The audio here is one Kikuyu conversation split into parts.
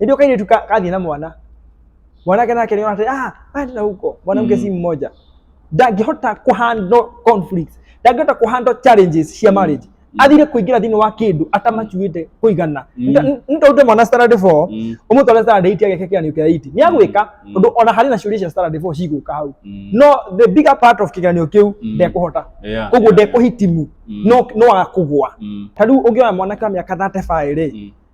ndio kaini tu kadhi na mwana mwanake nake aliona ati ah enda huko mwanamke Mm. si mmoja ndangĩhota kũhandle conflicts ndangĩhota kũhandle challenges cia marriage athire kũingĩra thĩinĩ wa kĩndũ atamacuĩte kũigana Mm. nĩtaũte mwana standard 4 Mm. ũmũtware standard 8 ageke kĩgeranio kĩa 8 nĩ agwĩka Mm. tondũ ona harĩ na ciũria cia standard 4 cigũka hau Mm. no the bigger part of kĩgeranio kĩu Mm. ndekũhota Yeah, koguo yeah, ndekũhitimu Mm. no no akũgwa Mm. ta rĩu ũngĩona mwanake wa mĩaka 35 rĩ Mm.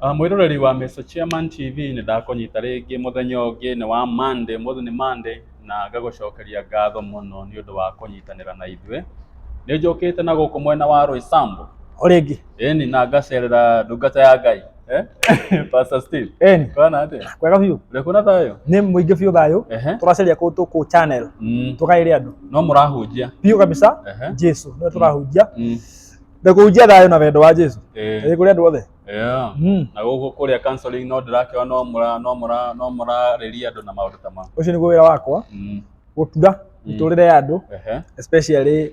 Ah, mwĩroreri wa Mr. Chairman TV nĩ ndakũnyita rĩngĩ mũthenya ũngĩ nĩ wa Monday, mũthĩ nĩ Monday na ngagũcokeria ngatho mũno nĩ ũndũ wa kũnyitanĩra na ithuĩ. Nĩ njũkĩte na gũkũ mwena wa Roysambu, Orĩngĩ. ĩni na ngacerera ndungata ya Ngai. Eh? Pastor Steve. Eni. Kwana ate. Kwega biũ. Rekona thayo. Nĩ mũingĩ biũ thayũ. Ehe. Tũracaria kũ tũkũ channel. Mm. Tũkaĩre andũ. No mũrahunjia. Biũ kabisa. Ehe. Jesu. Nĩ tũrahunjia. Mm. Na kũhunjia thayũ na wendo wa Jesu. Eh. Ĩ kũrĩ andũ othe. Yeah. Mm. Na gũkũ kũrĩa counseling no ndĩrakĩwa no mũra no mũra no mũrarĩria andũ na maũndũ ta ma. Ũcio nĩguo wĩra wakwa. Mm. Gũtura mĩtũrĩre ya andũ. Ehe. Especially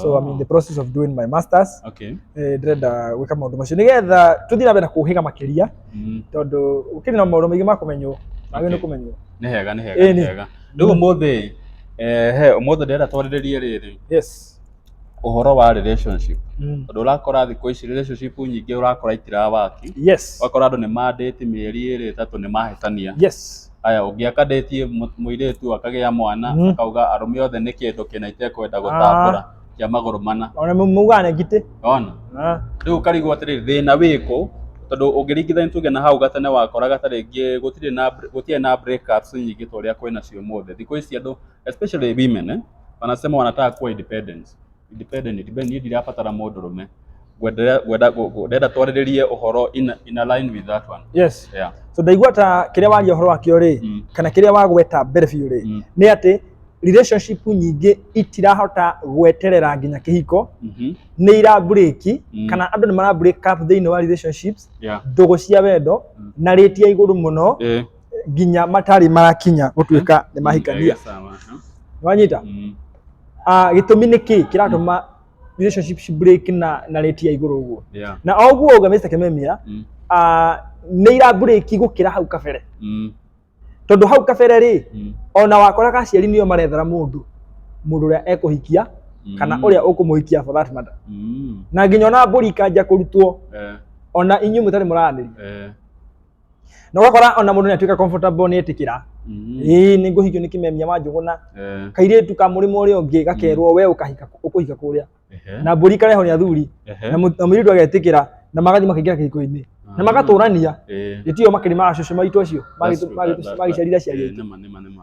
so I'm in the process of doing my masters Okay. eh, ndĩrenda gwĩka maũndũ macio nĩgetha tũthiĩ na mbere na kũhĩga makĩria Mm. tondũ ũkĩrĩ na maũndũ maingĩ ma kũmenywo magĩ nĩ Okay. kũmenywo Nĩ hega, nĩ hega, Ĩĩ, nĩ nĩ. hega. Rĩu ũmũthĩ, eh, he, ũmũthĩ ndĩrenda twarĩrĩrie rĩrĩ, yes ũhoro wa relationship. mm. Tondũ ũrakora thikũ ici relationship nyingĩ ũrakora itirabaki. yes Ũgakora andũ nĩ mandĩti mĩeri ĩrĩ ĩtatũ nĩ mahĩtania. yes Aya ũngĩ akadetie mũ- mũirĩtu akagĩa mwana Mhm. akauga arũme othe nĩ kĩndũ kĩna itekwenda gũtambũra kĩa magũrũ mana ona mau- maugaga na ngitĩ ona Ah, rĩu ũkarigwo atĩrĩrĩ thĩna wĩkũ tondũ ũngĩringithania tuge na hau gatene wakoraga ta rĩngĩ gũtirĩ na gũtirĩ na breakups nyingĩ ta ũrĩa kwĩna cio ũmũthĩ thikũ ici andũ especially women eh, wanasema wanataka kuwa independence independent independent niĩ ndirabatara mũndũrũme ngwenda ngwenda ngũ- ndenda twarĩrĩrie ũhoro in, in align with that one yes yeah so ndaigua ta kĩrĩa waria ũhoro wakĩo rĩ Mm. kana kĩrĩa wagweta mbere biũ rĩ Mm. nĩ atĩ relationship nyingĩ itirahota gweterera nginya kĩhiko mhm nĩ irambũrĩki Mm. kana andũ nĩ marambũrĩka thĩinĩ wa relationships yeah ndũgũ cia wendo Mm. na rĩti ya igũrũ mũno eh nginya matarĩ marakinya gũtuĩka nĩ mahikania wanyita mm. ah, gĩtũmi nĩ kĩ kĩratũma mm. relationship ci break na na rate ya igũrũ ũguo na o ũguo ũga Mr. Kimemia mm. ah, nĩ ira break gũkĩra hau kabere tondũ hau kabere rĩ ona wakoraga aciari nĩo marethera mũndũ mũndũ ũrĩa ekũhikia kana mm. uria ukumuhikia for that matter mm. na nginya ona mburi ikanja kurutwo eh. ona inyu mutari muraniria eh. na ũgakora ona mũndũ nĩ atuĩka comfortable nĩ etĩkĩra Mm. ĩĩ nĩ ngũhikio nĩ kĩmemia wa njũgũna Eh, kairĩtu ka mũrĩmo ũrĩa ũngĩ gakerwo we ũkahika ũkũhika kũrĩa ehe, na mbũri kareho nĩ athuri ehe, na mũ- na mũirĩtu agetĩkĩra na magathiĩ makaingĩra kĩhiko-inĩ na ah, magatũrania eh, gĩtio makĩrĩ ma cũcũ maitũ acio that's true, that- that- that- magĩciarire eh, ciarĩte nĩma, nĩma, nĩma.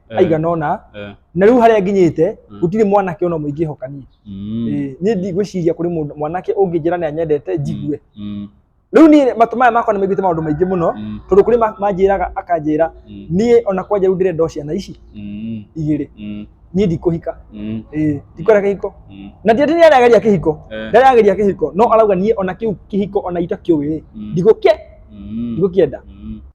Eh, aigana ona eh, na rĩu harĩa nginyĩte Mm. gũtirĩ mwanake ona mũingĩ hoka niĩ mm, Eh, niĩ ndigwĩciria kũrĩ mũndũ- mwanake ũngĩnjĩra nĩ anyendete njigue mm, rĩu niĩ matũ maya makwa nĩ maiguĩte maũndũ maingĩ mũno mm, tondũ kũrĩ ma- manjĩraga akanjĩra mm, niĩ ona kwanja rĩu ndĩrenda o ciana ici mm, igĩrĩ mm, niĩ ndikũhika mm, Eh, ndikwenda kĩhiko mm, na ndiati nĩ arageria kĩhiko eh, ndarageria kĩhiko no arauga niĩ ona kĩu kĩhiko ona itakĩũĩ mm, ndigũkĩ mm, ndigũkĩenda mm.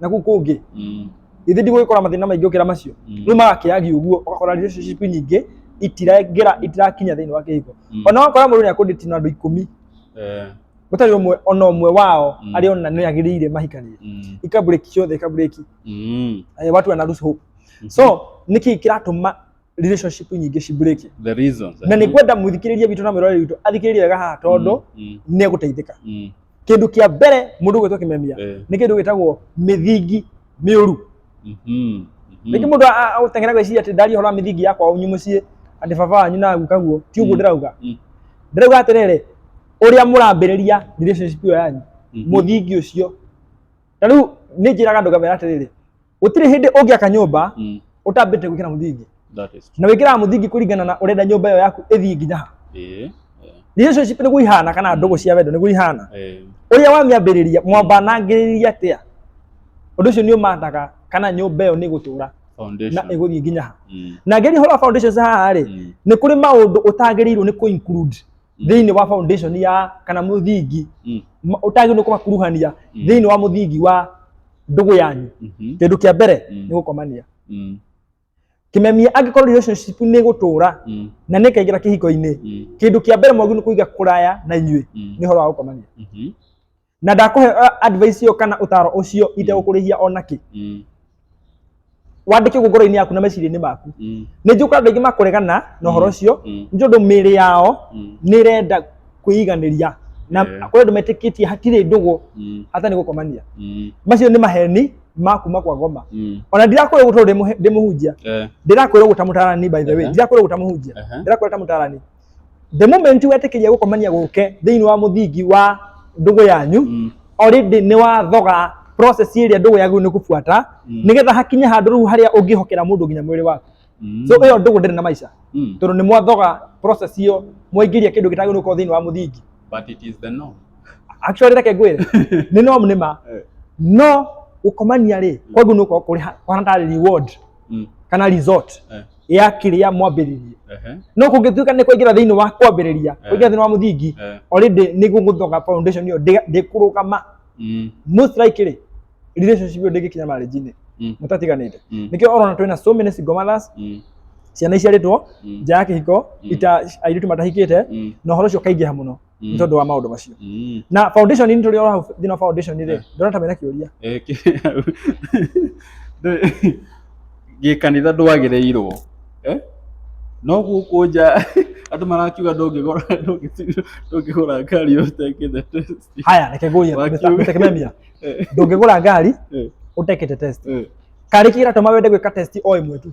na kuu kũngĩ Mm. ithe ndigũgĩkora mathĩna maingĩ gũkĩra macio Mm. rĩu magakĩagi ũguo ũgakora relationship nyingĩ itirengera itirakinya thĩinĩ wa kĩhiko Mm. ona wakora mũndũ nĩ akũndĩti na andũ ikũmi Eh, gũtarĩ ũmwe ona ũmwe wao Mm. arĩ ona nĩ agĩrĩire mahikanĩre mm. ikabũrĩki ciothe ikabũrĩki Mm. eh, watu wanaruhusu hope so niki kiratuma relationship nyingĩ ci break the reasons na nĩ kwenda mũthikĩrĩrie witũ na mwĩroreri witũ athikĩrĩrie wega haha tondũ mm, nĩ egũteithĩka mm, kĩndũ kĩa mbere mũndũ gwĩtwo kĩmemia eh, nĩ kĩndũ gĩtagwo mĩthingi mĩũru mhm, mhm. rĩngĩ mũndũ a- a- agũteng'era gwĩciria atĩ ndaria ũhoro wa mĩthingi ya kwao nyu mũciĩ atĩ baba wanyu na guka guo ti ũguo Mm. ndĩrauga Mm. ndĩrauga atĩrĩrĩ ũrĩa mũrambĩrĩria relationship ĩyo yanyu Mhm. mũthingi ũcio na rĩu nĩ njĩraga andũ ngamera atĩrĩrĩ gutire hindi ungiaka nyumba Mm. utambite gwikira muthingi That is true. na wikiraga muthingi kuringana na urenda nyumba iyo yaku ithii nginya ha Eh. relationship niguo ihana kana ndugu cia wendo niguo ihana Eh. uria wamiambiriria mwambanangiriria atia undu ucio ni umataga kana nyumba iyo ni gutura na Foundation. iguthii nginya ha Mm. na ngeri horo foundations haha ri Mm. nä kå rä maå ndå å tagä rä irwo nä kå include Mm. thĩinĩ wa foundation ya kana mũthingi Mm. ma- ũtagĩrĩirwo kũmakuruhania Mm. thĩinĩ wa mũthingi wa ndũgũ yanyu Mhm. kĩndũ kĩa mbere Mm. nĩ gũkomania Mm. kĩmemia angĩkorwo relationship nĩ gũtũra Mm. na nĩ kaingĩra kĩhiko-inĩ Mm. kĩndũ kĩa mbere mwagu nĩ kũiga kũraya na inyuĩ Mm. nĩ ũhoro wa gũkomania Mhm. na ndakũhe uh, advice ĩyo kana ũtaro ũcio itegũkũrĩhia ona kĩ Mm. wandĩke ũguo ngoro-inĩ yaku na meciria-inĩ maku Mm. nĩ njũka andũ aingĩ makũregana na ũhoro Mm. ũcio Mm. nĩ tondũ mĩĩrĩ yao Mm. nĩ ĩrenda kwĩiganĩria na Yeah. kũrĩ andũ metĩkĩtie hatirĩ ndũgũ Mm. hata nĩ gũkomania Mm. macio nĩ maheni ma kuma kwa ngoma Mm. ona ndirakwĩrwo gũtũ ndĩmũhunjia Eh. ndirakwĩrwo gũta mũtarani by the way Ehe. ndirakwĩrwo gũta mũhunjia Ehe. ndirakwĩrwo ta mũtarani the moment wetĩkĩria gũkomania gũke thĩinĩ wa mũthingi wa ndũgũ yanyu Mm. already nĩ wathoga process ĩrĩa ndũgũ yagu nĩ kũbuata Mm. nĩgetha hakinye handũ rĩu harĩa ũngĩhokera mũndũ nginya mwĩrĩ waku Mm. so ĩyo ndũgũ ndĩrĩ na maica Mm. tondũ nĩ mwathoga process ĩyo mwaingĩria kĩndũ gĩtagĩrĩirwo gũkorwo thĩinĩ wa mũthingi But it is the norm. actually reke ngwĩre nĩ no nĩma Eh. no gũkomania rĩ kwangu nĩ gũkorwo kũrĩ ha- kũhana tarĩ reward Mm. kana resort Eh. ya kĩrĩa mwambĩrĩrie Ehe. no kũngĩtuĩka nĩ kũingĩra thĩinĩ wa kwambĩrĩria Eh. kũingĩra thĩinĩ wa mũthingi Eh. already nĩ gũgũthonga foundation ĩyo ndĩ- ndĩkũrũgama Mm. most likely relationship ĩyo ndĩngĩkinya marriage-inĩ Mm. mũtatiganĩte Mm. nĩkĩo ũrona twĩna so many single mothers Mm. ciana iciarĩtwo Mm. nja ya kĩhiko Mm. ita airĩtu matahikĩte Mm. na ũhoro ũcio ũkaingĩha mũno nĩ tondũ wa maũndũ macio Mm. na foundation nĩ tũrĩ ora thĩinĩ wa foundation rĩ Eh. ndona ta mena kĩũria Eh, kĩ- Ndĩ- gĩkanitha ndwagĩrĩirwo Eh? no gũkũ nja andũ marakiuga ndũngĩgũra ndũngĩti- ndũngĩgũra ngari ũtekĩte test. haya reke ngũrie Wakiuga. Mr. Mr. Kimemia Eh, ndũngĩgũra ngari eh, ũtekĩte test eh. karĩ kĩratũma wende gwĩka test o ĩmwe tu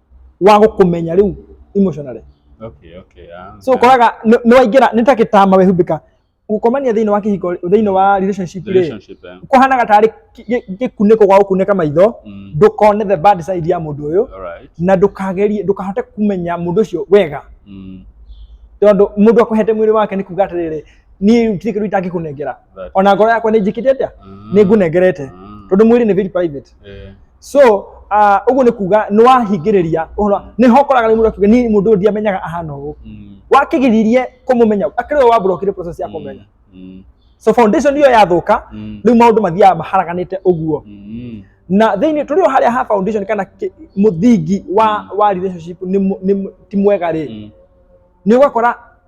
wa gũkũmenya rĩu emotionally okay okay ah, so ũkoraga nĩ- nĩ waingĩra nĩ ta gĩtama wehumbĩka gũkomania thĩinĩ wa kĩhiko thĩinĩ wa relationship rĩ relationship eh? kũhanaga tarĩ kĩ- gĩ- gĩkunĩko gwa gũkunĩka maitho mm. ndũkone the bad side ya mũndũ ũyũ alright na ndũkagerie ndũkahote kũmenya mũndũ ũcio wega mm. tondũ mũndũ akũhete mwĩrĩ wake nĩ kuga atĩrĩrĩ niĩ gũtirĩ kĩndũ itangĩkũnengera that ona ngoro yakwa nĩ njĩkĩte atĩa mm. nĩ ngũnengerete mm. tondũ mwĩrĩ nĩ very private eh. so ah, ũguo nĩ kuga nĩ wahingĩrĩria ũhoro nĩ ho ũkoraga rĩmwe ũkiuga niĩ mũndũ ũyũ ndiamenyaga ahana ũũ Mm. wakĩgiririe kũmũmenya akĩrĩ we wamburokire process ya kũmenya Mm. so foundation iyo yathũka Mm. rĩu maũndũ mathiaga maharaganĩte ũguo Mm. na thĩinĩ tũrĩ o harĩa ha foundation kana kĩ- mũthingi wa wa relationship nĩ mũ- nĩ mũ- ti mwega rĩ Mm. nĩ ũgakora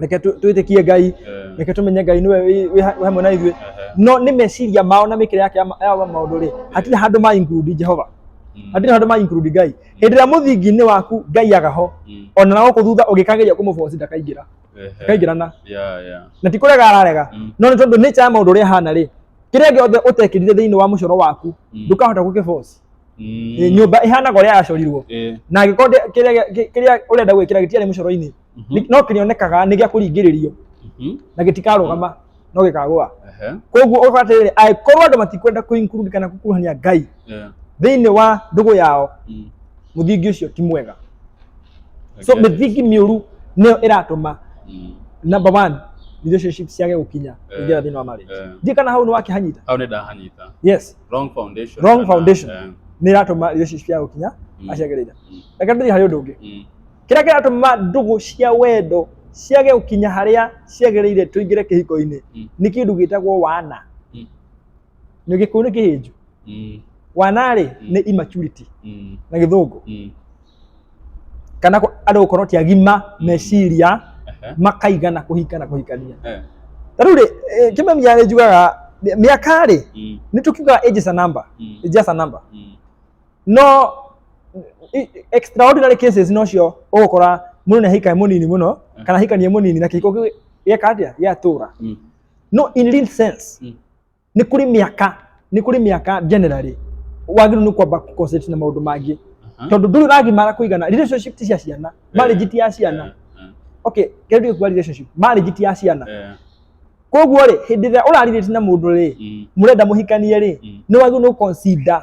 reke tu- twĩtĩkie ngai Eh, reke tũmenye ngai nĩwe wĩ- wĩ ha- wĩ hamwe na ithuĩ eh, no nĩ meciria mao na mĩkĩre yake ya ma- ya maũndũ rĩ hatirĩ handũ ma include jehova mm, hatirĩ handũ ma include ngai hĩndĩ ĩrĩa mũthingi-inĩ waku ngai agaho mm, ona na gũkũ thutha ũgĩkageria kũmũboci ndakaingĩra eh, eh, ndakaingĩrana yeah, yeah. na ti kũrega ararega Mm. no nĩ tondũ nĩ ya maũndũ ũrĩa hana rĩ kĩrĩa gĩothe ũtekĩrire thĩinĩ wa mũcoro waku Mm. ndũkahota gũkĩboci Mm, nyũmba ĩhanaga ũrĩa yacorirwo eh, na angĩkorwo ndĩ- kĩrĩa gĩ- kĩrĩa ũrenda gwĩkĩra gĩtiarĩ mũcoro-inĩ Mhm. Nĩ- no kĩrĩonekaga nĩ gĩa kũringĩrĩrio Mhm. na gĩtikarũgama no gĩkagũa Ehe. koguo ũgakora atĩrĩrĩ angĩkorwo andũ matikwenda kũinclude kana gũkuruhania ngai Yeah. thĩinĩ wa ndũgũ yao Mm. mũthingi ũcio ti mwega so Okay. mĩthingi mĩũru nĩyo ĩratũma Mm. number one relationship ciage gũkinya Eh, ingĩra thĩinĩ wa marriage eh. ndiĩ kana hau nĩ wakĩhanyita Hau nĩ ndahanyita. yes Wrong foundation. Wrong kana- foundation. Eh. nĩ ĩratũma relationship ciage gũkinya Mm. aciagĩrĩire Mm. reke ndĩthiĩ harĩ ũndũ ũngĩ Mm. kĩrĩa kĩratũma ndũgũ cia wendo ciage gũkinya harĩa ciagĩrĩire tũingĩre kĩhiko-inĩ Mm. nĩ kĩndũ gĩtagwo wana Mm. nĩ gĩkũyũ nĩ kĩhĩnju Mm. wana rĩ Mm. nĩ immaturity Mm. na gĩthũngũ Mm. kana kũ- andũ gũkorwo ti agima meciria Aha. makaiga na kũhika na kũhikania Eh. ta rĩu rĩ eh, kĩmemia nĩ njugaga mĩ- mĩaka rĩ Mm. nĩ tũkiugaga age is a number Mm. age is a number Mm. no extraordinary cases no cio ũgũkora mũndũ nĩ ahikae mũnini mũno kana ahikanie mũnini na kĩhiko kĩu gĩeka atĩa gĩatũra Mm. no in real sense Mm. nĩ kũrĩ mĩaka nĩ kũrĩ mĩaka generally wagĩrĩirwo nĩ kwamba concentrate na maũndũ mangĩ Aha. tondũ ndũrĩ ũragimara kũigana relationship ti cia ciana marriage ti ya ciana Eh, okay kĩndũ gĩkuwa relationship marriage ti ya ciana eh, koguo rĩ hĩndĩ ĩrĩa ũrarirĩti na mũndũ rĩ mm, mũrenda mũhikanie rĩ Mm. nĩ wagĩrĩirwo nĩ gũconsider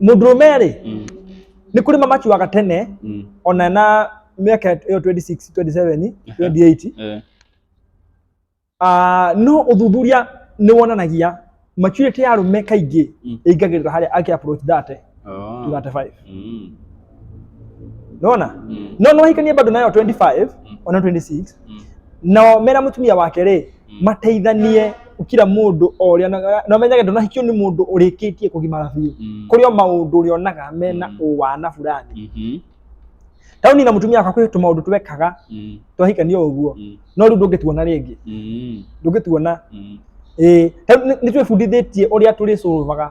mũndũrũme rĩ Mm. nĩ kũrĩ mamacuaga tene Mm. ona na mĩaka ĩyo 26 27 28 Eh. Ah, no ũthuthuria nĩ wonanagia maturity ya arũme kaingĩ Mm. ĩingagĩrĩra harĩa ake approach that Oh. to 35 Mm. nona Mm. no no hikanie bado nayo 25 Mm. ona 26 Mm. nao mena mutumia wake rĩ Mm. mateithanie kira mundu o ũrĩa onaga- na menyage ndonahikio nĩ mundu ũrĩkĩtie kũgimara biũ Mm. kũrĩ o maũndũ ũrĩa onaga mena Mm. ũwana burani Mhm. tauni na mutumia wakwa kwĩ tũmaũndũ twekaga Mm. twahikania ũguo Mm. no rĩu ndũngĩtuona rĩngĩ Mm. ndũngĩtuona Mm. ĩĩ nĩ twĩbundithĩtie ũrĩa tũrĩcũrũvaga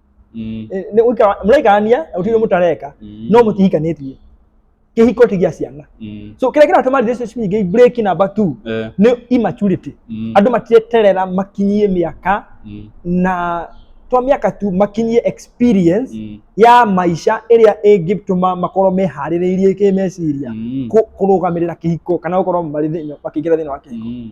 Mm. Eh, nĩ gũikara mũraikarania na gũtirĩ mũtareka Mm. no mũtihikanĩtie kĩhiko ti gĩa ciana Mm. so kĩrĩa kĩratũma relationship nyingĩ break number 2 Eh. nĩ immaturity Mm. andũ matieterera makinyie mĩaka Mm. na to mĩaka tu makinyie experience Mm. ya maica ĩrĩa ĩngĩtũma makorwo meharĩrĩirie kĩmeciria Mm. kũ- kũrũgamĩrĩra kĩhiko kana gũkorwo marĩ thĩinĩ- makĩingĩra thĩinĩ wa kĩhiko Mm.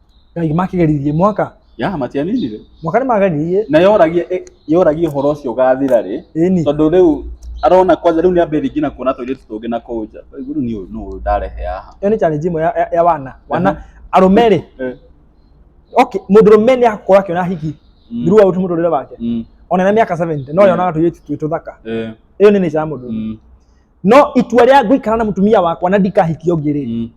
ngai makĩgeririe mwaka ya matianinire mwaka nĩ mageririe na yoragia eh, yoragia ũhoro ũcio ũgathira rĩ ĩni tondũ rĩu arona kwanja rĩu nĩ ambĩrĩria nginya kuona tũirĩtu tũngĩ na kũu nja Rĩu rĩu nĩ nũ ndarehe haha ĩyo nĩ challenge ĩmwe ya, ya, ya wana wana arũme rĩ Eh, okay mũndũ rũme nĩ akũra akĩona hiki mm, through out mũtũrĩre wake mm, ona na mĩaka 70 no Mm. yonaga tũirĩtu twĩ tũthaka eh, ĩyo nĩ nature ya mũndũ mm, no itua rĩa gũikara na mũtumia wakwa na ndikahiki ũngĩ rĩ mm,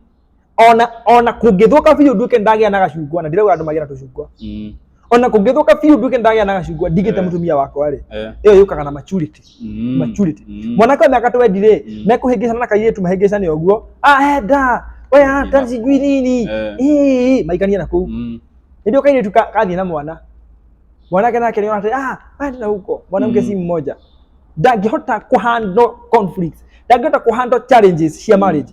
ona ona kũngĩthũka biũ nduĩke ndagĩa na gacungwa na ndirauga andũ magĩa na tũcungwa Mm. ona kũngĩthũka biũ nduĩke ndagĩa na gacungwa ndigĩte Eh. mũtumia wakwa rĩ Eh. ĩyo yũkaga na maturity Mm. maturity Mm. mwanake wa mĩaka twendi rĩ Mm. mekũhĩngĩcana na kairĩtu mahĩngĩcane ũguo ahenda we ata Ina. cigui nini Eh. Ii, maikanie na kũu Mm. ndio kairĩtu ka- kathiĩ na mwana mwanake nake nĩona atĩ ah aende na huko mwanamke Mm. si mmoja ndangĩhota kũhandle conflicts ndangĩhota kũhandle challenges cia marriage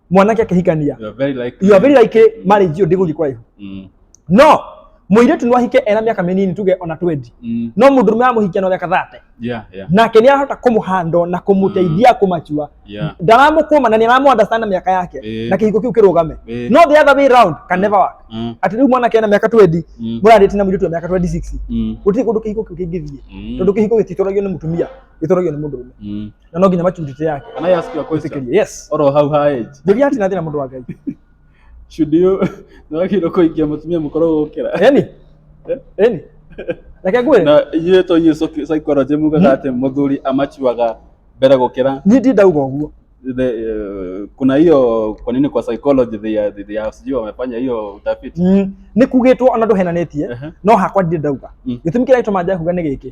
mwanake akĩhikania You are very likely. you are very likely marriage iyo ndĩgũthiĩ kũraihu Mm. no mũirĩtu no ahike ena mĩaka mĩnini tuge ona 20 Mm. no mũndũ mũrũme amũhikia na mĩaka 30 Yeah, yeah. nake nĩ arahota kũmũhandwo na kũmũteithia kũmachua Yeah. ndaramũkũma na nĩ aramuunderstand mĩaka yake Eh. na kĩhiko kĩu kĩrũgame Eh. no the other way round can never work Mm. atĩ rĩu mwanake ena mĩaka 20 Mm. mũrarĩtie na mũirĩtu wa mĩaka 26 Mm. gũtirĩ kũndũ kĩhiko kĩu kĩngĩthiĩ Mm. tondũ kĩhiko gĩtitwaragio nĩ mũtumia gĩtwaragio nĩ mũndũ ũmwe Mm. na no nginya maturity yake Can I ask you a question? Basically, yes Or how her age? njuria atina thina mundu wa ngai Should you nagĩrĩirwo kũhikia mũtumia mũkorwo gũkĩra? eni eni reke ngwĩre Na inyuĩ to inyuĩ psych- psychology mugaga atĩ mũthuri amachuaga mbere gũkĩra niĩ ndi ndauga ũguo the, uh, kuna hiyo kwa nini kwa psychology they are, they are sijui wamefanya hiyo utafiti Mm, nĩ kugĩtwo ona ndũhenanĩtie Ehe. no hakwa ndirĩ ndauga Mm. gĩtũmi kĩrĩa gĩtũma njakuga nĩ gĩkĩ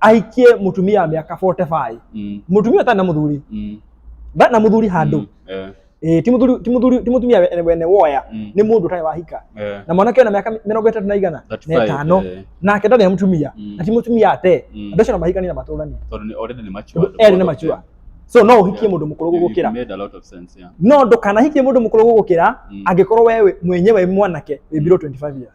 ahikie mutumia wa miaka 45 Mm. mutumia ũtarĩ na mũthuri Mm. ndarĩ na mũthuri handũ Mm. Eh. Eh, ti mũthuri ti mũthuri ti mũtumia we- wene woya Mm. nĩ mũndũ ũtarĩ wahika Eh. na mwanake wĩna mĩaka mĩrongo ĩtatũ na igana That's na right, ĩtano eh. nake ndarĩ na mũtumia Mm. na ti mũtumia ate Mm. andũ acio no mahikanie na matũranie Tondũ nĩ- already nĩ mature. Tondũ erĩ nĩ matua so no ũhikie Yeah. mũndũ mũkũrũ You- you gũgũkĩra made a lot of sense, yeah. no ndũkanahikie mũndũ mũkũrũ gũgũkĩra Mm. angĩkorwo wewe mwenyewe mwanake wĩ below 25 years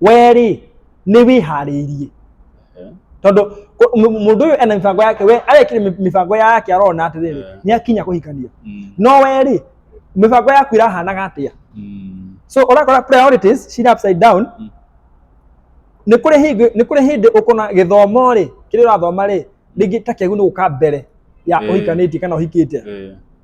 we rĩ nĩ wĩharĩirie tondũ kũ- mũ- mũndũ ũyũ ena mĩbango yake we arekire mĩ- mĩbango yake arona atĩrĩrĩ Eh. nĩ akinya kũhikania Mm. no we rĩ mĩbango yaku ĩrahanaga atĩa Mm. so ũrakora priorities cira upside down Mm. nĩ kũrĩ hĩndĩ nĩ kũrĩ hĩndĩ ũkona gĩthomo rĩ kĩrĩa ũrathoma rĩ rĩngĩ ta kĩagu nĩ gũka mbere ya Eh. ũhikanĩtie kana ũhikĩte Eh.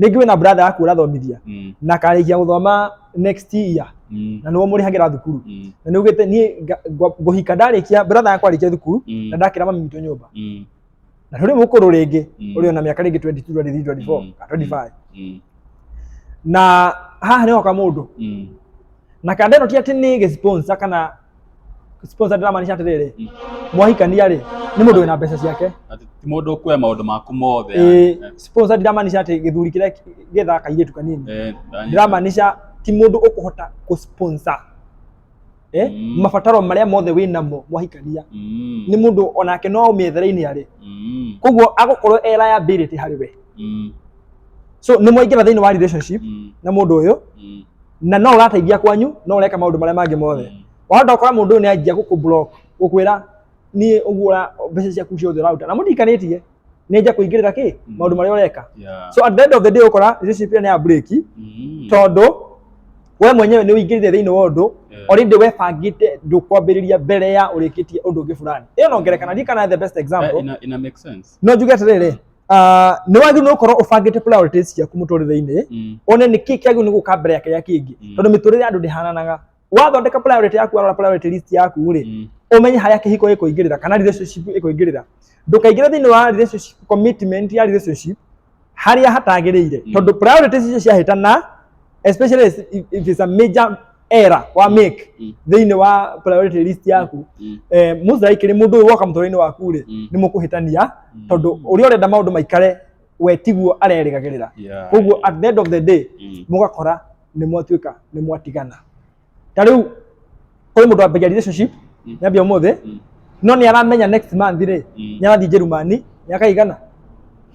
rĩngĩ wĩna brother yaku ũrathomithia Mm. na akarĩkia gũthoma next year Mm. na nĩwe mũrĩhagĩra thukuru Mm. na nĩ ugĩte niĩ nga- ngwa- ngũhika ndarĩkia brother yakwa arĩkia thukuru Mm. na ndakĩra mami witũ nyũmba Mm. na tũrĩ mũkũrũ rĩngĩ Mm. ũrĩ ona mĩaka rĩngĩ 22 23 24 Mm. kana 25 Mm. na haha nĩ hoka mũndũ Mm. na kanda ĩno ti atĩ nĩ gĩsponsor kana sponsor ndĩramaanisha atĩrĩrĩ Mm. mwahikania rĩ nĩ mũndũ wĩna mbeca ciake Atĩ ti mũndũ ũkuoya maũndũ maku mothe Ĩĩ, eh, sponsor ndiramaanisha atĩ gĩthuri kĩrĩa gĩthaa kairĩtu kanini eh, ndanyita. ndiramaanisha ti mũndũ ũkũhota kũsponsor eh? Mm. mabataro marĩa mothe wĩ namo mwahikania Mm, nĩ mũndũ onake no ũmĩethera-inĩ arĩ mm, koguo agũkorwo e liability harĩ we mm, so nĩ mwaingĩra thĩinĩ wa relationship mm, na mũndũ ũyũ mm. na no ũrateithia kwanyu no ũreka maũndũ marĩa mangĩ mothe Mm. wahota gũkora mũndũ ũyũ nĩ anjia gũkũ block gũkwĩra niĩ ũguo ũra- mbeca ciaku ciothe ũraruta na mũtikanĩtie nĩ anjia kũingĩrĩra kĩ Mm. maũndũ marĩa ũreka Yeah. so at the end of the day ũkora relationship nĩ ya break Mm. tondũ we mwenyewe nĩ ũingĩrire thĩinĩ wa ũndũ Yeah. already webangĩte ndũkwambĩrĩria mbere ya ũrĩkĩtie ũndũ ũngĩ fulani ĩyo no ngerekana ndirikana the best Eh, example ina, ina make sense no njuge atĩrĩrĩ ah, nĩ wagĩrĩirwo nĩ gũkorwo ũbangĩte priorities ciaku mũtũrĩre-inĩ Mm. one nĩ kĩĩ kĩagĩrĩirwo nĩ gũka mbere ya kĩrĩa kĩngĩ Mm. tondũ mĩtũrĩre ya andũ ndĩhananaga wathondeka priority yaku warora priority list yaku rĩ Mm. umenye harĩa kĩhiko gĩkũingĩrĩra kana relationship ĩkũingĩrĩra ndũkaingĩre thĩinĩ wa relationship commitment ya relationship harĩa hatagĩrĩire Mm. tondũ priorities icio ciahĩtana especially if- if it's a major era wa make Mm. thĩinĩ wa priority list yaku Mm. eh, mũthaiki nĩ mũndũ ũyũ woka mũtũrĩinĩ waku rĩ Mm. nĩ mũkũhĩtania Mm. tondũ ũrĩa ũrenda maũndũ maikare we tiguo arerĩgagĩrĩra Yeah. koguo at the end of the day Mm. mũgakora nĩ mwatuĩka nĩ mwatigana ta rĩu kũrĩ mũndũ wambagia relationship Mm. nyambia ũmũthĩ Mm. no nĩ aramenya next month rĩ Mm. nĩ arathiĩ njerumani nĩ akaigana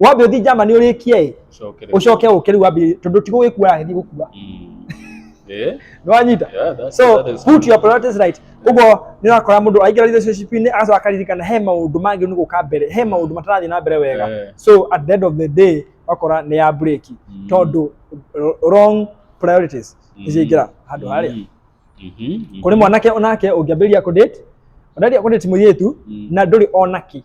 wambe uthi jama ni urikie ĩ Cokere. ucoke uke riu wambi tondu ti gugikua aragethi gukua Mm. Eh? ni wanyita Yeah, that's- so that is put your priorities right uguo ni urakora mundu aingĩra relationship-inĩ agacoka akaririkana he maundu mangĩ nĩ gũka mbere he maundu matarathi na mbere wega Eh. so at the end of the day wakora nĩ ya break Mm. tondu r- wrong priorities Mm. nĩciaingĩra handũ harĩa Mm. Mhm, mhm. kũrĩ mwanake onake ũngĩambĩrĩria kũdate ũndaria kũdate mũirĩtu Mm. na ndũrĩ onaki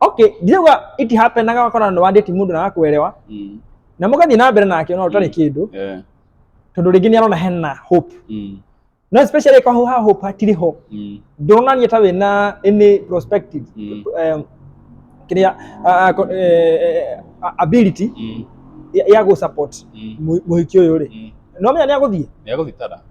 okay ndirauga it happenaga wakona nĩ wandĩti mũndũ na wakwelewa Mm. na mũgathiĩ na mbere nake ona ũtarĩ Mm. kĩndũ Yeah. tondũ rĩngĩ nĩarona hena hope Mm. no especially kwa ha hope hatirĩ ho Mm. ndũronania ta wĩna any prospective Mm. um, kĩrĩa uh, uh, uh, ability Mm. ya, ya gũ support Mm. mũhiki ũyũ rĩ Mm. no menya nĩ agũthiĩ Nĩagũthitara.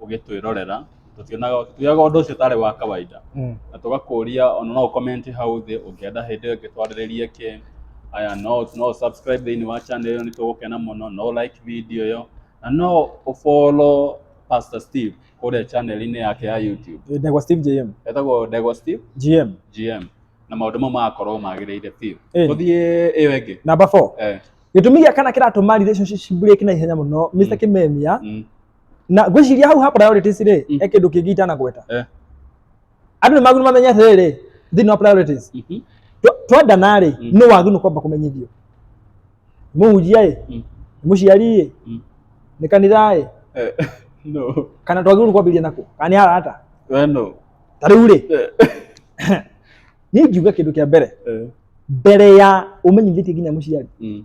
ũgĩtwĩrorera tũtionaga tuoyaga ũndũ ũcio ũtarĩ wa kawaida mm. na tũgakũria ona no ũkomenti hau thĩ ũngĩenda hĩndĩ ĩngĩ twarĩrĩrie kĩ aya no no subscribe thĩinĩ wa channel ĩyo nĩ tũgũkena mũno no like video ĩyo na no ũfollow Pastor Steve kũrĩa channel-inĩ yake ya YouTube Eh, Ndegwa Steve JM etagwo Ndegwa Steve GM GM na maũndũ mau magakorwo magĩrĩire biũ Ĩni. tũthiĩ ĩyo ĩngĩ namba 4 eh, gĩtũmi gĩa kana kĩratũma relationship break na ihenya mũno Mr Kimemia mm, na ngwĩciria hau ha priorities rĩ Mm. he kĩndũ kĩngĩ itanagweta Eh. andũ nĩ magĩrĩirwo mamenye atĩrĩrĩ thĩinĩ wa priorities Mhm. Twa- twendana rĩ Mm. nĩ wagĩrĩirwo kwamba kũmenyithio mũhunjia ĩ Mm. mũciari ĩ Mm. nĩ kanitha ĩ Eh, no kana twagĩrĩirwo kwambĩrĩria nako kana nĩ arata Eh, no ta rĩu rĩ Eh, niĩ ngiuga kĩndũ kĩa mbere eh, mbere ya ũmenyithĩtie nginya mũciari mm,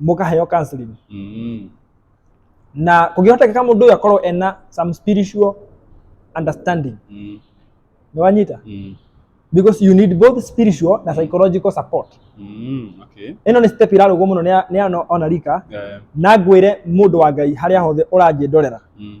mũkaheo counseling Mm. na kũngĩhotekeka mũndũ ũyũ akorwo ena some spiritual understanding Mm. nĩ wanyita Mm. because you need both spiritual na psychological support Mm. Okay. ĩno nĩ step irarũgwo mũno nĩ ya- nĩ ya ona rika Yeah. na ngwĩre mũndũ wa ngai harĩa hothe ũranjĩndorera Mm.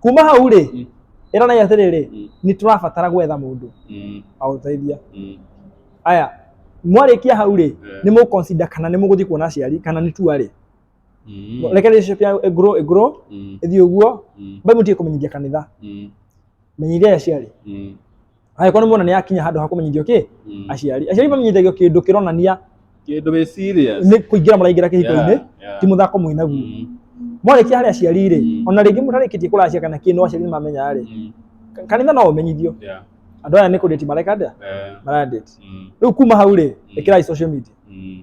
kuma hau rĩ Mm. ĩranai atĩrĩrĩ Mm. nĩ tũrabatara gwetha mũndũ Mm. aũteithia Mm. aya mwarĩkia hau rĩ Eh. nĩ mũkonsida kana nĩ mũgũthiĩ kuona aciari kana nĩ tua rĩ Mm. reke relationship ya ĩgũrũ ĩgũrũ Mm. ĩthiĩ ũguo Mm. mbai mũtige kũmenyithia kanitha Mm. menyithia aciari Mm. angĩkorwo nĩ muona nĩ akinya handũ ha kũmenyithio kĩ Mm. aciari aciari mamenyithagio kĩndũ kĩronania Kĩndũ wĩ serious. nĩ kũingĩra mũraingĩra kĩhiko-inĩ Yeah, yeah. ti mũthako mwĩ naguo Mm, mwarĩkia harĩ aciari rĩ Mm. ona rĩngĩ mũtarĩkĩtie kũracia kana kĩndũ aciari nĩ mamenya rĩ mm, kanitha no ũmenyithio yeah, andũ aya nĩ kũndĩti mareka ndĩa eh, marandĩti mm, rĩu kuma hau rĩ ĩkĩrai social media mm.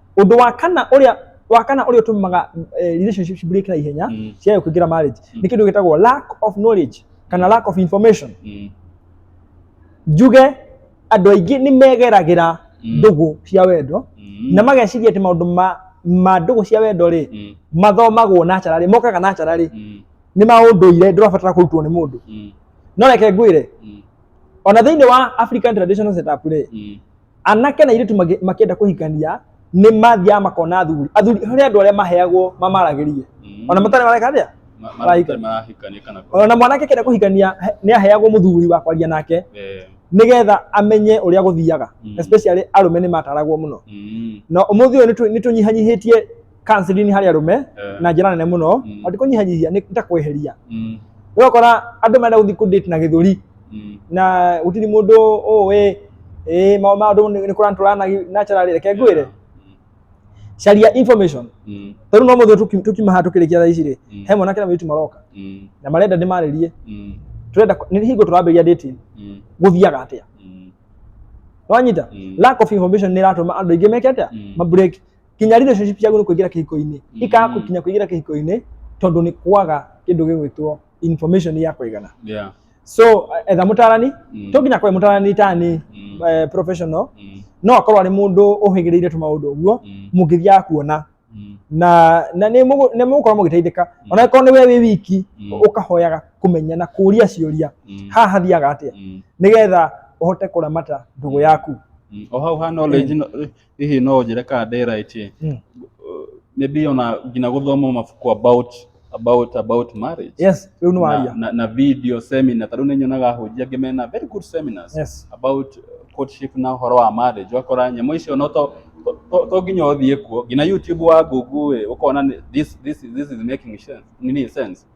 Ũndũ wa kana ũrĩa wa kana ũrĩa ũtũmaga eh, relationship break na ihenya Mm. ciayo kũingĩra marriage Mm. nĩ kĩndũ gĩtagwo lack of knowledge kana lack of information. Mm. Njuge andũ aingĩ nĩ megeragĩra Mm. ndũgũ cia wendo Mm. na mageciria atĩ maũndũ ma ma ndũgũ cia wendo rĩ Mm. mathomagwo na cararĩ mokaga na cararĩ Mm. nĩ maũndũire ndũrabatara kũrutwo nĩ mũndũ Mm. no reke ngwĩre Mm. ona thĩinĩ wa African traditional setup rĩ Mm. anake na airĩtu magĩ- makĩenda kũhikania nĩ mathiaga makona athuri athuri harĩ andũ arĩa maheagwo mamaragĩrie Mm. ona matarĩ mareka atĩa Ma- ma- marahika. matarĩ marahikania kana kũ- ona mwanake akĩenda kũhikania he- nĩ aheagwo mũthuri wa kwaria nake eh, nĩgetha amenye ũrĩa gũthiaga Mm. especially arũme nĩ mataragwo mũno mm, na ũmũthĩ ũyũ nĩtũ- nĩtũnyihanyihĩtie counseling harĩ arũme Eh. na njĩra nene mũno Mm. na ti kũnyihanyihia nĩ ta kweheria Mm. ũgakora andũ marenda gũthiĩ kũdate na gĩthũri Mm. na gũtirĩ mũndũ ũĩ ĩ ma- maũndũ nĩ kũrantũra na naturally reke ngwĩre caria information Mm. tondũ no mũthĩ tũki- tukiuma haha tũkĩrĩkia thaa ici rĩ Mm. he mwanake na mũirĩtu maroka Mm. na marenda ndĩmarĩrie Mm. tũrenda kũ- nĩ hingo tũrambĩrĩria dating Mm. gũthiaga atĩa Mm. wanyita Mm. lack of information nĩ ĩratũma andũ aingĩ meke atĩa Mm. ma break kinya relationship ciaku nĩ kũingĩra kĩhiko-inĩ Mm. ikaga gũkinya kũingĩra kĩhiko-inĩ tondũ nĩ kwaga kĩndũ gĩgwĩtwo information ya kũigana Yeah. so eh, etha mũtarani Mm. to nginya kwae mũtarani tani Mm. eh, professional Mm. no akorwo arĩ mũndũ ũhĩgĩrĩire tũmaũndũ ũguo Mm. mũngĩthiaga kuona Mm. na na nĩ mũgũ- nĩ mũgũkorwo mũgĩteithĩka Mm. ona akorwo nĩ we wĩ wiki Mm. ũkahoyaga kũmenya na kũria ciũria Mm. haha hathiaga atĩa Mm. nĩgetha ũhote kũramata ndũgũ yaku Mm. o hau ha knowledge no- hihi no ũnjĩre kana ndĩ right ĩ Mm. nĩ ndĩona nginya gũthoma mabuku about about about marriage yes rĩu nĩ na, waria na, na video seminar tarĩu nĩ nyonaga ahunjia angĩ mena very good seminars yes about uh, courtship na ũhoro wa marriage wakora nyamũ icio no to to- to- to nginya ũthiĩ kuo nginya youtube wa google ĩ, ũkona nĩ- this, this, this is making sense, nini sense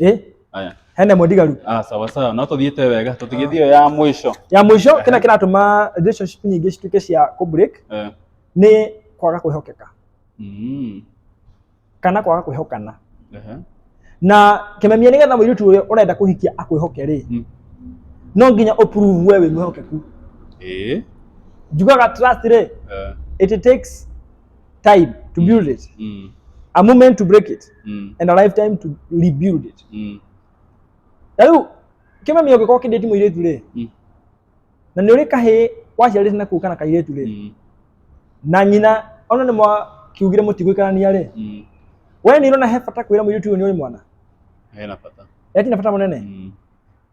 eh Aya. hena ĩmwe ndigaru Ah, sawa sawa no tũthiĩte wega tũtigĩthiĩ ĩyo ya mũico ya mũico Ehe. kĩrĩa kĩratũma relationship nyingĩ cituĩke cia kũ break Eh, nĩ kwaga kwĩhokeka mm, kana kwaga kwĩhokana ehe, na kĩmemia nĩ getha mũirĩtu ũrĩa ũrenda kũhikia akwĩhoke rĩ Mm. no nginya ũprove we wĩ mwĩhokeku ĩĩ, njugaga trust rĩ eh, it takes time to Mm. build it, Mm. a moment to break it, Mm. and a lifetime to rebuild it. Mm. Na rĩu kĩmami ũngĩkorwo kĩndĩti mũirĩtu rĩ Mm. na nĩ ũrĩ kahĩ waciarĩte na kũu kana kairĩtu rĩ Mm. na nyina ona nĩ mwakiugire mũtigũikarania rĩ Mm. we nĩ ũrona he bata kwĩra mũirĩtu ũyũ nĩ ũrĩ mwana Hena bata. eti na bata mũnene Mm.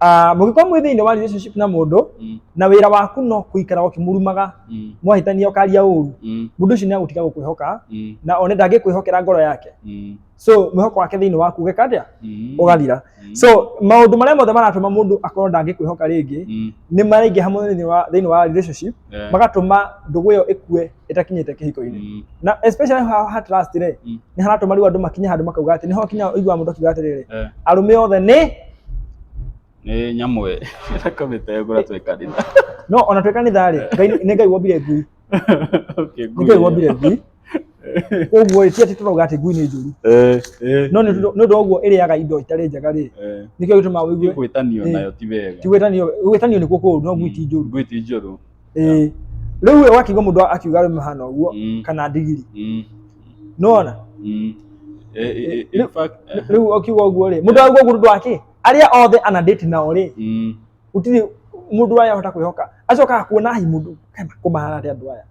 Ah, mũngĩkorwo mwĩ thĩinĩ wa relationship na mũndũ Mm. na wĩra waku no kũikara ũkĩmurumaga Mm. mwahĩtania ũkaria ũru Mm. mũndũ ũcio nĩ agũtiga gũkwĩhoka Mm. na one ndangĩkwĩhokera ngoro yake Mm. so mwĩhoko wake thĩinĩ waku ũgeka atĩa Mm. ũgathira Mm. so maũndũ marĩa mothe maratũma mũndũ akorwo ndangĩkwĩhoka rĩngĩ Mm. nĩ maraingĩha mũno thĩinĩ wa- thĩinĩ wa relationship Yeah. magatũma ndũgũ ĩyo ĩkue ĩtakinyĩte kĩhiko-inĩ Mm. na especially ha, ha trust rĩ Mm. nĩ haratũma rĩu andũ makinye handũ makauga atĩ nĩho kinya ũigua mũndũ akiuga atĩrĩrĩ Eh. arũme othe nĩ nĩ nyamũ ĩ ĩtakomĩte ngũra twĩ kanitha no ona twĩ kanitha rĩ Ngai nĩ- nĩ ngai wombire ngui Okay, nĩ ngai wombire ngui koguo ĩ ti atĩ tũrauga atĩ ngui nĩ njũru Eh, eh, no nĩ ũndũ- nĩ ũndũ wa ũguo ĩrĩaga indo itarĩ njega rĩ eh. nĩkĩo gĩtũmaga Ti ũigue gwĩtanio Eh. nayo ti wega ti gwĩtanio gwĩtanio nĩkuo kũũru no ngui ti njũru ngui ti njũru ĩĩ rĩu ũyũ wakiuga mũndũ akiuga we mahana ũguo Mm. kana ndigiri Mm. nona Mm. Eh, eh, eh, in fact, eh, rĩu ũkiuga ũguo rĩ mũndũ auga ũguo nĩ ũndũ wa kĩ arĩa othe ana date nao rĩ mm. gũtirĩ mũndũ aya ahota kwĩhoka acokaga kuona hi mũndũ kana kũmahana atĩ andũ aya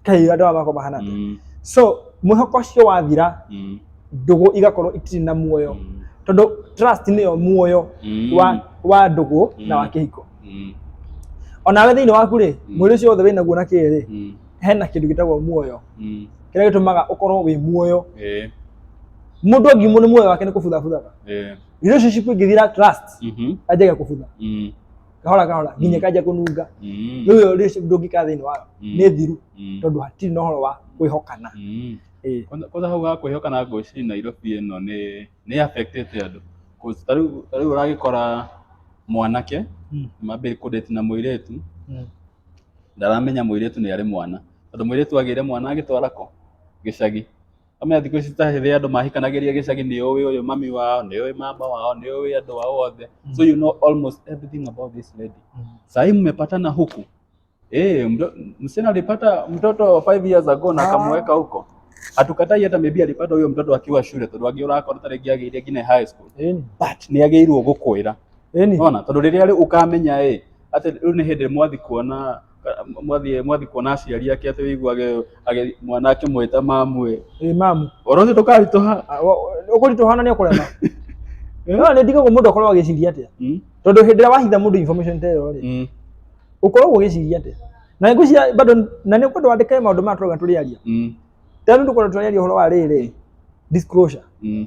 kai andå aya makoma hana Mm, so mwĩhoko ũcio wathira mm, ndũgũ igakorwo itirĩ na muoyo mm, tondũ trust nĩyo muoyo mm, wa, wa ndũgũ na wa Mm. kĩhiko mm, onawe thĩinĩ waku rĩ Mm. mwĩrĩ ũcio wothe wĩnaguo na kĩĩ rĩ mm, hena kĩndũ gĩtagwo muoyo mm, kĩrĩa gĩtũmaga ũkorwo wĩ muoyo eh, mũndũ angimũ nĩ muoyo wake nĩ kũbuthabuthaga eh, relationship ingĩthira trust mhm, anjagia kũbutha mm, kahora kahora mm. nginya kanja kununga mm. riu yo ndungika thiini wayo mm. ni thiru tondu hatiri na horo wa kwihokana kwanza hau ga kwihokana ngwiciri Nairobi ino ni ni affectete andu ta riu uragikora mwanake mambiri kudate na muiritu ndaramenya muiritu ni ari mwana tondu muiritu agire mwana agitwara ko gicagi Amwe thikũ ici ta hĩndĩ andũ mahikanagĩria gĩcagi nĩ ũĩ ũyũ mami wao, nĩ ũĩ mama wao, nĩ ũĩ andũ ao othe. So you know almost everything about this lady. Sahi mmepatana huku. Eh, mdo- msichana alipata mtoto 5 years ago na akamweka huko. Hatukatai hata maybe alipata huyo mtoto akiwa shule tondũ angĩ ũrakora ta rĩngĩ agĩire nginya high school. Ĩni. But nĩ agĩrĩirwo gũkwĩra. Ĩni. Ona tondũ rĩrĩa rĩu ũkamenya ĩ atĩ rĩu nĩ hĩndĩ mwathi kuona mwathiĩ mwathiĩ kuona aciari ake atĩ wĩiguage agĩ- mwana akĩmwĩta mamu ĩ ĩ mamu ũhoro ũcio ndũkaritũha ũkũritũhana nĩ ũkũrema no nĩ ndigagwo mũndũ akorwo agĩciria atĩa Mm, tondũ hĩndĩ ĩrĩa wahitha mũndũ information ta ĩyo rĩ mm, ũkoragwo ũgĩciria atĩa na nĩ ngwĩciria bado na nĩ ũkwenda wandĩke maũndũ maya tũrauga tũrĩaria mm, tena nĩ tũkwenda tũrĩaria ũhoro wa rĩrĩ disclosure mm.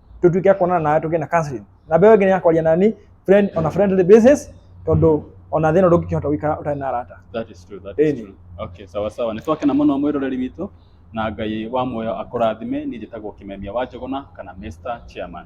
tũtuĩke kuonana nawe tũgĩe na counseling na mbeũ ĩngĩ nĩ ya kwaria nani friend on a friendly basis tondũ ona thĩna ndũngĩkĩhota gũikara ũtarĩ na arata That is true, that is Ĩni. true. Okay, sawa sawa. Nĩ twakena mũno mwĩroreri witũ na Ngai wa muoyo akũrathime. Niĩ njĩtagwo Kĩmemia wa Njũgũna kana Mr. Chairman.